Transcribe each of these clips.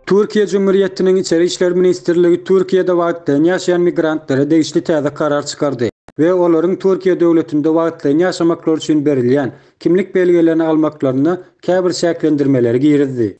Türkiýe Jumhuriyetiniň Içeri işler ministrligi Türkiýede wagtlaýyn ýaşaýan migrantlara degişli täze karar çykardy we olaryň Türkiýe döwletinde wagtlaýyn ýaşamaklary üçin berilýän kimlik belgelerini almaklaryna käbir çäklendirmeleri girizdi.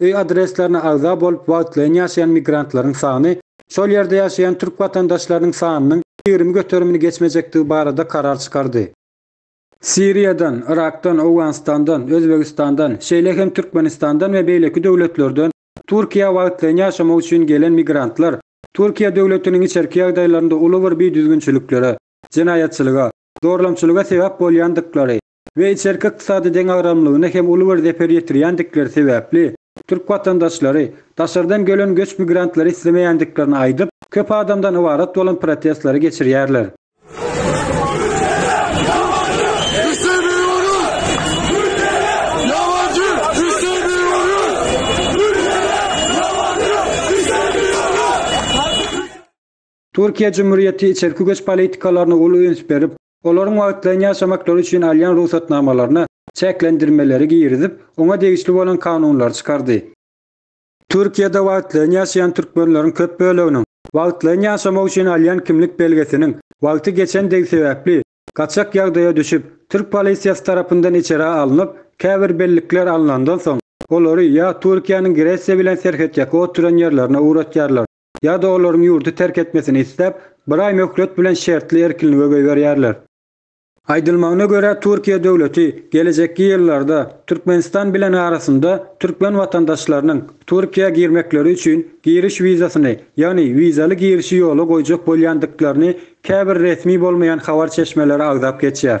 Öý adreslerine agza bolup wagtlaýyn ýaşaýan migrantlaryň sany şol ýerde ýaşaýan türk watandaşlarynyň sanynyň ýigrimi göterimini geçmejekdigi barada karar çykardy. Siriýadan, Yrakdan, Owganystandan, Özbegistandan, şeýle hem Türkmenistandan we beýleki döwletlerden Türkiýä wagtlaýyn ýaşamak üçin gelen migrantlar Türkiýe döwletiniň içerki ýagdaýlarynda uly bir bidüzgünçiliklere, jenaýatçylyga, zorlamçylyga sebäp bolýandyklary, we içerki ykdysady deňagramlygyna hem uly bir zeper ýetirýändikleri sebäpli, türk watandaşlary, daşardan gelen göç migrantlary islemeýändiklerini aýdyp, köp adamdan ybarat bolan protestleri geçirýärler. Türkiýe Jumhurýeti içerki göç politikalaryna uly üns berip, olaryň wagtlaýyn ýaşamaklary üçin alýan rugsatnamalaryna çäklendirmeleri girizip, oňa degişli bolan kanunlary çykardy. Türkiýede wagtlaýyn ýaşaýan türkmenleriň köp böleginiň wagtlaýyn ýaşamak üçin alýan kimlik belgesiniň wagty geçendigi sebäpli, gaçak ýagdaýa düşüp, türk polisiýasy tarapyndan içerä alnyp, käbir bellikler alnandan soň, olary ýa Türkiýäniň Gresiýa bilen serhetýaka oturan ýerlerine ugratýarlar, ýa-da olaryň ýurdy terk etmesini isläp, bir aý möhlet bilen şertli erkinlige goýberýärler. Aýdylmagyna görä, Türkiýe döwleti gelejekki ýyllarda Türkmenistan bilen arasynda türkmen watandaşlarynyň Türkiýä girmekleri üçin giriş wizasyny, ýagny wizaly girişi ýola goýjak bolýandyklaryny käbir resmi bolmaýan habar çeşmeleri agzap geçýär.